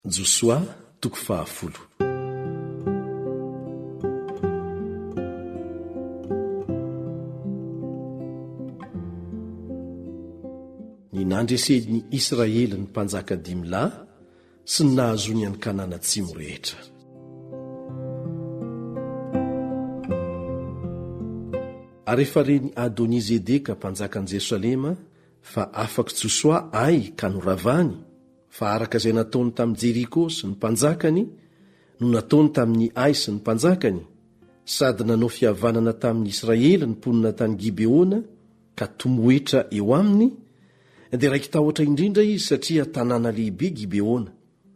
Josoa toko fahafolo. Ny nandresen'i Israely ny mpanjaka dimy lahy sy ny nahazoany an'i Kanana Atsimo rehetra. Ary efa ren'i Adoni-zedeka mpanjakan'i Jerosalema fa afak'i Josoa ay ka noravany, Fa araka izay nataony tamin'i Jeriko sy ny mpanjakany no nataony tamin'i Ay sy ny mpanjakany, sady nanao fihavanana tamin'ny Israely ny mponina tany Gibeona ka tomoetra eo aminy, dia raiki-tahotra indrindra izy satria tanàna lehibe Gibeona,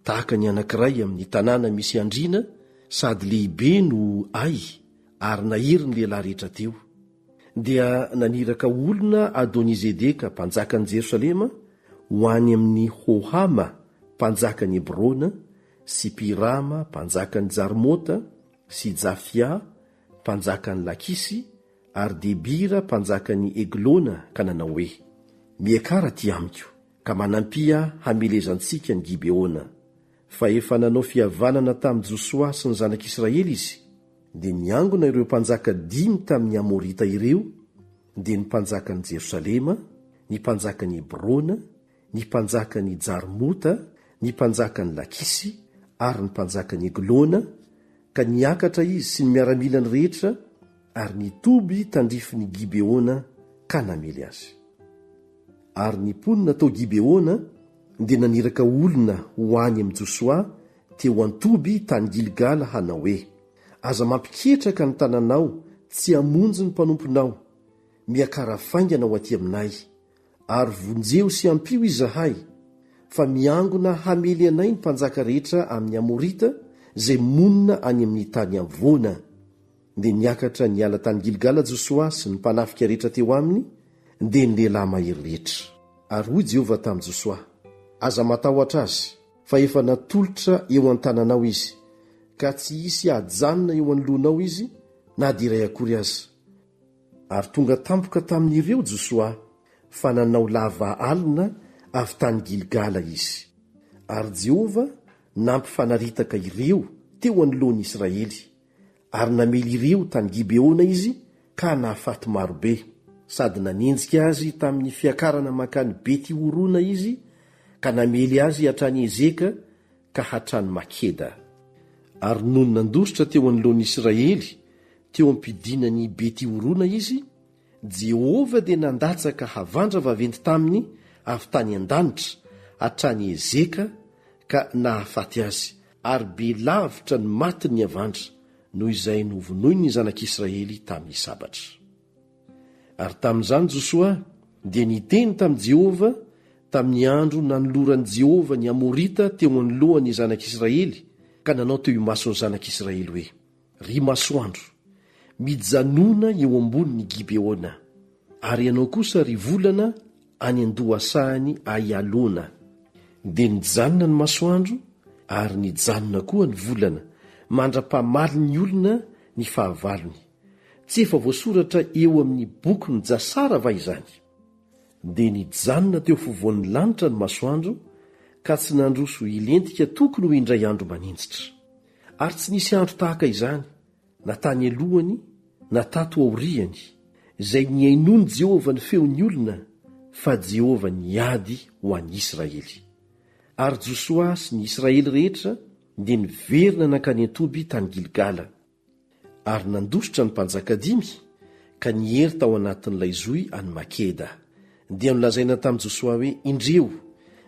tahaka ny anankiray amin'ny tanàna misy andriana sady lehibe noho Ay, ary nahery ny lehilahy rehetra teo. Dia naniraka olona Adoni-zedeka mpanjakan'i Jerosalema ho any amin'i Hohama mpanjakan'i Hebrona sy Pirama mpanjakan'i Jarmota sy Jafia mpanjakan'i Lakisy ary Debira mpanjakan'i Eglona ka nanao hoe, Miakara aty amiko, ka manampia hamelezantsika ny Gibeona. fa efa nanao fihavanana tamin'i Josoa sy ny zanak'Israely izy, dia niangona ireo mpanjaka dimy tamin'ny Amorita ireo, dia ny mpanjakan'i Jerosalema, ny mpanjakan'i Hebrona, ny mpanjakan'i Jarmota, ny mpanjakan'i Lakisy, ary ny mpanjakan'i Eglona, ka niakatra izy sy ny miaramilany rehetra, Ary ny toby tandrifin' i Gibeona ka namely azy. Ary ny mponina tao Gibeona dia naniraka olona ho any amin' i Josoa teo an-toby tany Gilgala hanao hoe, Aza mampiketraka ny tananao tsy hamonjy ny mpanomponao, miakara faingana ho aty aminay, ary vonjeo sy ampio izahay, fa miangona hamely anay ny mpanjaka rehetra amin' ny Amorita izay monina any amin' ny tany havoana, Dia niakatra niala tany Gilgala Josoa sy ny mpanafika rehetra teo aminy, dia ny lehilahy mahery rehetra. Ary hoy Jehovah tamin'i Josoa, Aza matahotra azy, fa efa natolotra eo an-tananao izy, ka tsy hisy hajanona eo anoloanao izy na dia iray akory aza. Ary tonga tampoka tamin'ireo Josoa, fa nanao lava alina avy tany Gilgala izy. Ary Jehovah nampifanaritaka ireo teo anoloan'ny Israely, ary namely ireo tany Gibeona izy ka nahafaty maro be, sady nanenjika azy tamin'ny fiakarana mankany Beti-horona izy ka namely azy hatrany Ezeka ka hatrany Makeda. Ary nony nandositra teo anoloan'ny Israely teo am-pidinan'i Beti-horona izy, Jehovah dia nandatsaka havandra vaventy taminy avy tany an-danitra hatrany Ezeka ka nahafaty azy, Ary be lavitra ny matin' ny havandra noho izay novonoin' ny Zanak' i Israely tamin' ny sabatra. Ary tamin' izany Josoa dia niteny tamin'i Jehovah tamin'ny andro nanoloran'i Jehovah ny Amorita teo anoloan' ny Zanak' Israely ka nanao teo imason'ny Zanak' Israely hoe, Ry masoandro, mijanona eo ambonin'i Gibeona, ary ianao kosa, ry volana, any an-dohasahan'i Aialona. Dia nijanona ny masoandro ary nijanona koa ny volana, mandra-pamalin'ny olona ny fahavalony. Tsy efa voasoratra eo amin'ny bokin'i Jasara va izany? Dia nijanona teo afovoan'ny lanitra ny masoandro, ka tsy nandroso hilentika tokony ho indray andro maninjitra. Ary tsy nisy andro tahaka izany, na tany alohany, na tato aoriany, izay nihainoan'i Jehovah ny feon'ny olona, fa Jehovah niady ho an'i Israely. Ary Josoa sy ny Israely rehetra dia niverina nankany an-toby tany Gilgala. Ary nandositra ny mpanjaka dimy, ka niery tao anatin'ilay zohy any Makeda. Dia nolazaina tamin'i Josoa hoe, Indreo,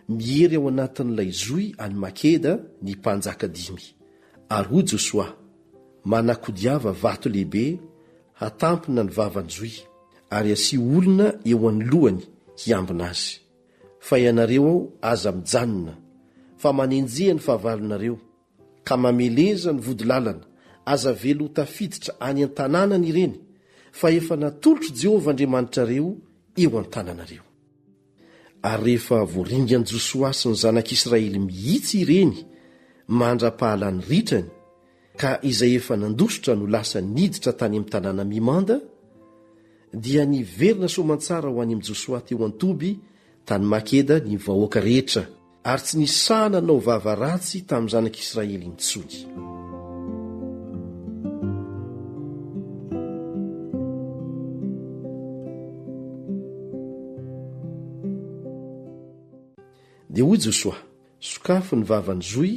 miery ao anatin'ilay zohy any Makeda ny mpanjaka dimy. Ary hoy Josoa, Manakodiava vato lehibe hatampina ny vavan'ny zohy, ary asio olona eo anoloany hiambina azy. Fa ianareo ao, aza mijanona, fa manenjeha ny fahavalonareo, Ka mameleza ny vodilalana, aza avela ho tafiditra any an-tanànany ireny, fa efa natolotr'i Jehovah Andriamanitrareo eo an-tananareo. Ary rehefa voaringan'i Josoa sy ny zanak'Israely mihitsy ireny mandra-pahalany ritrany, ka izay efa nandositra no lasa niditra tany amin'ny tanàna mimanda, dia niverina soamantsara ho any amin'i Josoa teo an-toby tany Makeda ny vahoaka rehetra, Ary tsy nisy sahy nanao vava ratsy tamin'ny zanak'Israely intsony. Dia hoy Josoa, Sokafy ny vavan'ny zohy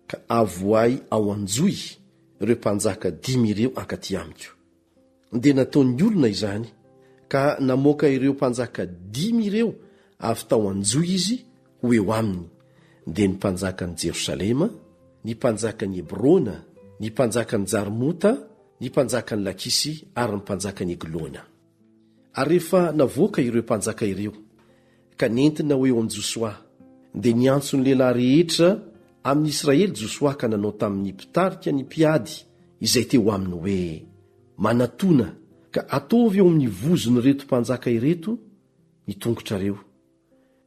ka avoahy ao an-johy ireo mpanjaka dimy ireo hankatỳ amiko. dia nataon'ny olona izany, ka namoaka ireo mpanjaka dimy ireo avy tao an-jo izy ho eo aminy, dia ny mpanjakan'i Jerosalema, ny mpanjakan'i Hebrona, ny mpanjakan'i Jarmota, ny mpanjakan'i Lakisy ary ny mpanjakan'i Eglona. Ary rehefa navoaka ireo mpanjaka ireo, ka nentina ho eo amin'i Josoa. Dia niantso ny lehilahy rehetra amin'ny Israely Josoa ka nanao tamin'ny mpitarika ny mpiady izay teo aminy hoe, Manatòna ka ataovy eo amin'ny vozon'ireto mpanjaka ireto ny tongotrareo.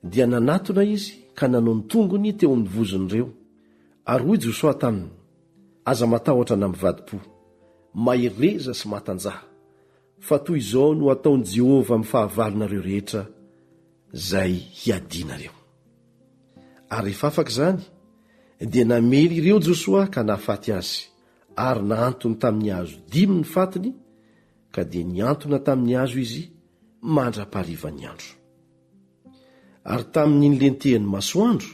Dia nanatona izy ka nanao ny tongony teo amin'ny vozon'ireo. Ary hoy Josoa taminy, Aza matahotra na mivadi-po. Mahereza sy matanjaha. Fa toy izao no hataon'i Jehovah amin'ny fahavalonareo rehetra izay hiadianareo. Ary rehefa afaka izany, dia namely ireo Josoa ka nahafaty azy, ary nahantony tamin'ny hazo dimy ny fatiny, ka dia nihantona tamin'ny hazo izy mandra-paharivan'ny andro. Ary tamin'ny nilentehan'ny masoandro,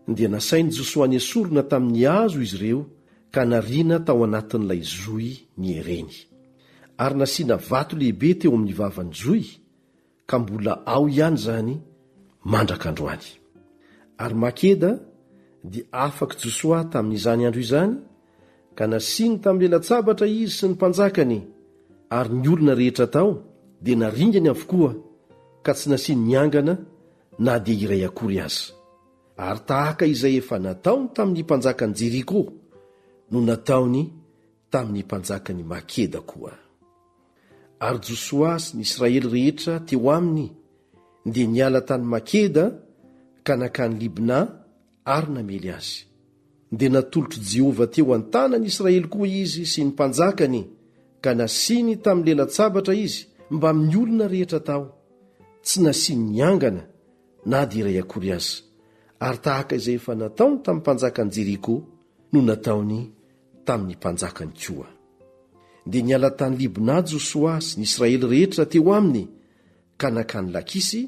dia nasain'i Josoa nesorina tamin'ny hazo izy ireo ka nariana tao anatin'ilay zohy niereny. Ary nasiana vato lehibe teo amin'ny vavan'ny zohy, ka mbola ao ihany izany mandraka androany. Ary Makeda dia afak'i Josoa tamin'izany andro izany, ka nasiany tamin'ilay latsabatra izy sy ny mpanjakany, ary ny olona rehetra tao dia naringany avokoa, ka tsy nasiany niangana, na dia iray akory aza. Ary tahaka izay efa nataony tamin'ny mpanjakan'i Jeriko no nataony tamin'ny mpanjakan'i Makeda koa. Ary Josoa sy ny Israely rehetra teo aminy dia niala tany Makeda ka nankany Libna Ary namely azy. Dia natolotr'i Jehovah teo an-tanan'i Israely koa izy sy ny mpanjakany, ka nasiany tamin'ny lelan-tsabatra izy mbamin'ny olona rehetra tao. Tsy nasiany niangana na dia iray akory aza, ary tahaka izay efa nataony tamin'ny mpanjakan'i Jeriko no nataony tamin'ny mpanjakany koa. Dia niala tany Libna Josoa sy ny Israely rehetra teo aminy, ka nankany Lakisy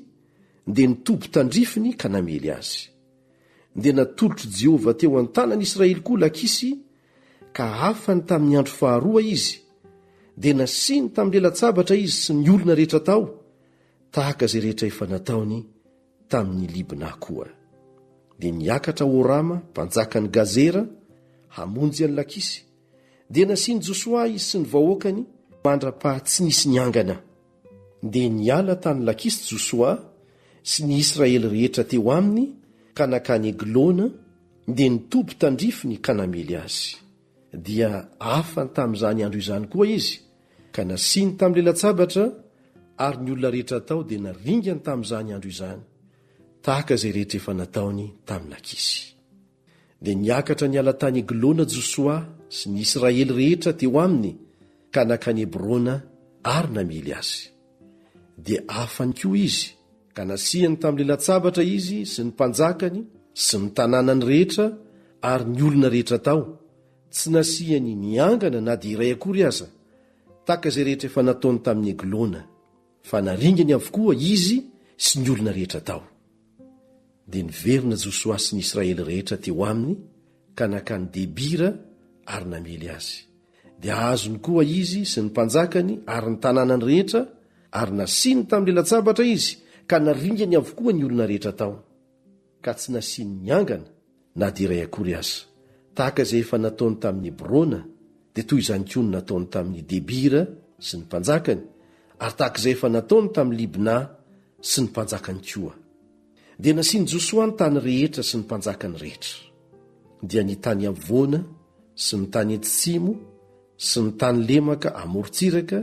dia nitoby tandrifiny ka namely azy. Dia natolotr'i Jehovah teo an-tanan'i Israely koa Lakisy, ka afany tamin'ny andro faharoa izy, dia nasiany tamin'ny lalan-tsabatra izy sy ny olona rehetra tao, tahaka izay rehetra efa nataony tamin'i Libna koa. Dia niakatra Horama, mpanjakan'i Gazera, hamonjy an'i Lakisy, dia nasian'i Josoa izy sy ny vahoakany mandra-paha tsy nisy niangana. Dia niala tany Lakisy Josoa sy ny Israely rehetra teo aminy ka nankany Eglona, dia nitoby tandrifiny ka namely azy. Dia afany tamin'izany andro izany koa izy, ka nasiany tamin'ny lalan-tsabatra, ary ny olona rehetra tao dia naringany tamin'izany andro izany, tahaka izay rehetra efa nataony tamin'i Lakisy. Dia niakatra niala tany Eglona Josoa sy ny Israely rehetra teo aminy ka nankany Hebrona ary namely azy. Dia afany koa izy, ka nasihany tamin'ilay latsabatra izy sy ny mpanjakany sy ny tanànany rehetra ary ny olona rehetra tao, tsy nasihany niangana na dia iray akory aza, tahaka izay rehetra efa nataony tamin'i Eglona. Fa naringany avokoa izy sy ny olona rehetra tao. Dia niverina Josoa sy ny Israely rehetra teo aminy ka nankany Debira ary namely azy. Dia azony koa izy sy ny mpanjakany ary ny tanànany rehetra, ary nasiany tamin'ny lalan-tsabatra izy, ka naringany avokoa ny olona rehetra tao. ka tsy nasiany niangana na dia iray akory aza. Tahaka izay efa nataony tamin'i Hebrona, dia toy izany koa no nataony tamin'i Debira sy ny mpanjakany, ary tahaka izay efa nataony tamin'i Libna sy ny mpanjakany koa. Dia nasian'i Josoa ny tany rehetra sy ny mpanjakany rehetra, dia ny tany afovoany sy ny tany atsimo sy ny tany lemaka amorontsiraka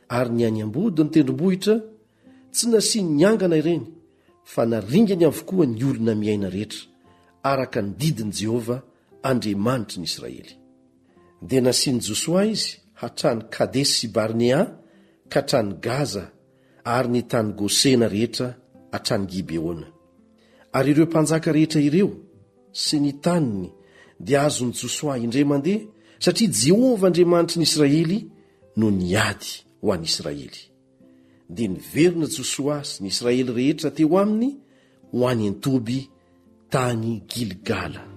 ary ny any ambodin'ny tendrombohitra, Tsy nasiany niangana ireny, fa naringany avokoa ny olona miaina rehetra, araka ny didin'i Jehovah, Andriamanitry ny Israely. Dia nasian'i Josoa izy hatrany Kadesy sy Barnea ka hatrany Gaza ary ny tany Gosena rehetra hatrany Gibeona. Ary ireo mpanjaka rehetra ireo sy ny taniny dia azon'i Josoa indray mandeha, satria Jehovah Andriamanitry ny Israely no niady ho an'Israely. dia niverina Josoa sy ny Israely rehetra teo aminy ho any an-toby tany Gilgala.